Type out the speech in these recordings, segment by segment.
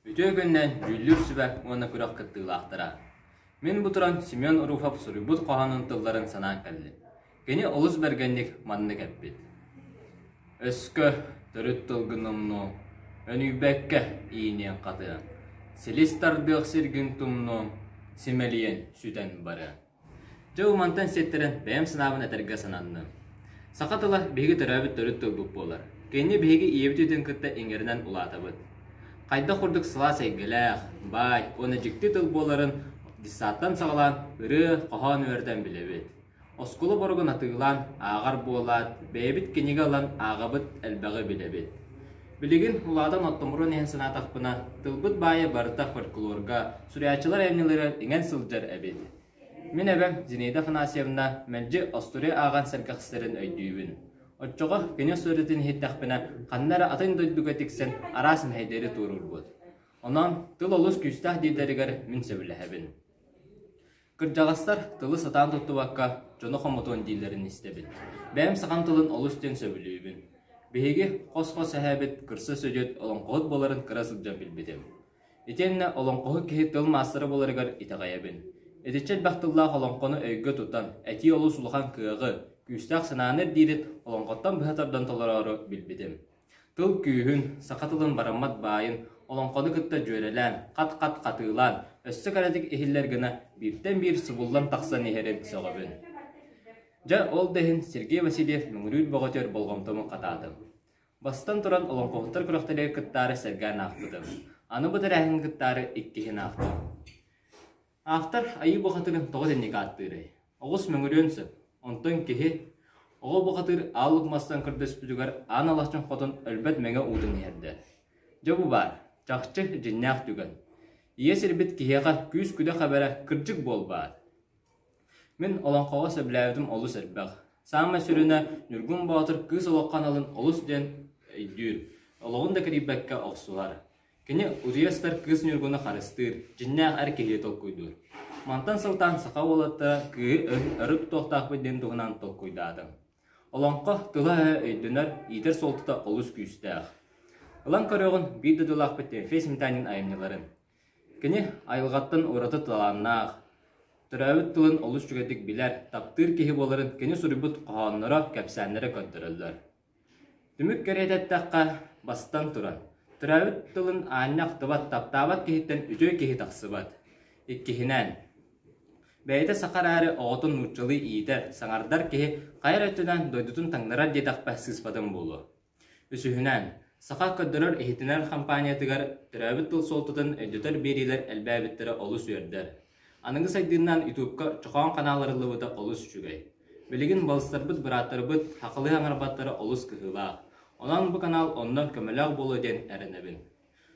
Үтүө күннэн, дьүүллүүр сүбэ уонна күрэх кыттыылаахтара! Мин бу туран Семен Руфов суруйбут хоһоонун тылларын санаан кэллим. Кини олус бэргэнник маннык эппит: «Өскө төрүт тылгы номнуоҥ, өнүйбэккэ ииниэҥ хатыаҥ, силис тардыах сиргин тумнуоҥ, симэлийэн сүтэн барыаҥ». Дьэ, ол мантан сиэттэрэн бэйэм санаабын этэргэ сананным. Саха тыла биһиги төрөөбүт төрүт тылбыт буолар. Кини биһиги ийэбит үйэтин кытта иҥэринэн улаатабыт. Хайдах курдук сылаас эйгэлээх, баай уонна дьикти тыл буоларын дьыссааттан саҕалаан ырыа, хоһоон үөрэтэн билэбит. Оскуола боругун атыылаан ааҕар буолаат, бэйэбит кинигэ ылан ааҕабыт элбэҕи билэбит. Билигин улаатан оттомуруон иһин санаатахпына, тылбыт баайа барыта фольклорга, суруйааччылар айымньыларыгар иҥэн сылдьар эбит. Мин эбэм Зинаида Афанасьевна мэлдьи остуруй ааҕан сэргэхситэрин өйдүүбүн. Оччоҕо кино сырыытын иһиттэхпинэ, ханна эрэ атын дойдуга тиксэн араас мэһэйдэри туоруурбут. Онон тыл олус күүстээх дииллэригэр мин сөбүлэһэбин. Кырдьаҕастар тылы сатаан туттубакка дьону хомотуон дииллэрин истэбин. Бэйэм сахам тылын олус диэн сөбүлүүбүн. Биһиги хос-хос эһээбит кырса сүдүөт олоҥхоһут буоларын кыра сылдьан билбитим. Итиэннэ олоҥхоһут киһи тыл маастара буоларыгар итэҕэйэбин. Итиччэ элбэх тыллаах олоҥхону өйгө тутан, этии олус улахан кыаҕы, күүстээх санааны ирдиирин олоҥхоттон быһа тардан толороору билбитим. Тыл күүһүн, саха тылын бараммат баайын, олоҥхону кытта дьүөрэлээн, хат-хат хатыылаан, өссө кэрэтик иһиллэр гына бииртэн биир субуллан тахсан иһэрин сөҕөбүн. Дьэ, ол да иһин Сергей Васильев мөҥүрүүр бөҕөтүгэр болҕомтону хатаатым. Бастан туран олоҥхоһуттар күрэхтэригэр кыттаары сэргээн аахпытым. Аны бу тэрээһин кыттаары иккиһин аахтым. Автор Айыы бухатырын тоҕо итинник ааттыырай? Оҕус мөҥүрүөн сөп. Онтон киһи оҕо бухатыр аал укмастан көрдөспүтүгэр аан алахчан хотон өлбөт мэҥэ уутун иһэрдэ. Дьэ бу баар, чахчы дьиннээх түгэн. Ийэ сирбит киһиэхэ күүс-күдэх эбэрэ кырдьык буолбаат? Мин олоҥхоҕо сөбүлээбитим олус элбэх. Саамай сүрүнэ Ньургун Боотур кыыс олоххо аналын олус диэн өйдүүр. Олоҕун да кирийбэккэ охсуһар. Кини утуйар кыыс Ньургуну харыстыыр, дьиннээх эр киһи толкуйдуур. Мантан сылтаан саха уолаттара кыыһы өрүт туохтаахпыт диэн туһунан толкуйдаатым. Олоҥхо тыла-өһө өйдөнөр, иитэр суолтата олус күүстээх. Ылан көрөҕүн биир дойдулаахпыт Тимофей Сметанин айымньыларын. Кини айылҕаттан ураты талааннаах, төрөөбүт тылын олус үчүгэйдик билэр, таптыыр киһи буоларын кини суруйбут хоһоонноро, кэпсээннэрэ көрдөрөллөр. Түмүк кэриэтэ эттэххэ, бастан туран, төрөөбүт тылын аанньа ахтыбат, таптаабат киһиттэн үтүө киһи тахсыбат. Иккиһинэн, бэйэтэ саха эрээри оҕотун нууччалыы иитэр, саҥардар киһи хайа эрэ өттүнэн дойдутун таҥнарар диэтэхпэ сыыспатым буолуо. Үсүһүнэн, саха көрдөрөр-иһитиннэрэр хампаанньатыгар төрөөбүт тыл суолтатын өйдөтөр биэриилэр элбээбиттэрэ олус үөрдэр. Аныгы сайдыынан ютубка чохоон ханаал арыллыбыта олус үчүгэй. Билигин балыстарбыт бырааттарбыт хахылыы аҥарбаттара олус кыһыылаах. Онон бу канал оннон көмөлөөх буолуо диэн эрэнэбин.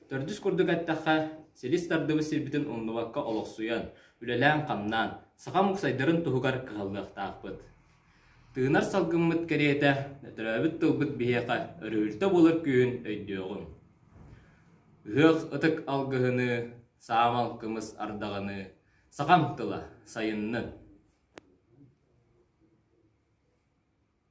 Төрдүс курдук эттэххэ, силис тардыбыт сирбитин умнубакка олохсуйан, үлэлээн-хамнаан, саха муксайдарын туһугар кыһаллыахтаахпыт. Тыынар салгыммыт кэриэтэ, өтөрөөбүт тылбыт биһиэхэ өрүһүлтэ буолар күһүн өйдүөҕүҥ. Ыһыах ытык алгыһыныы, саамал кымыс ардаҕыныы, сахаҥ тыла сайыннын!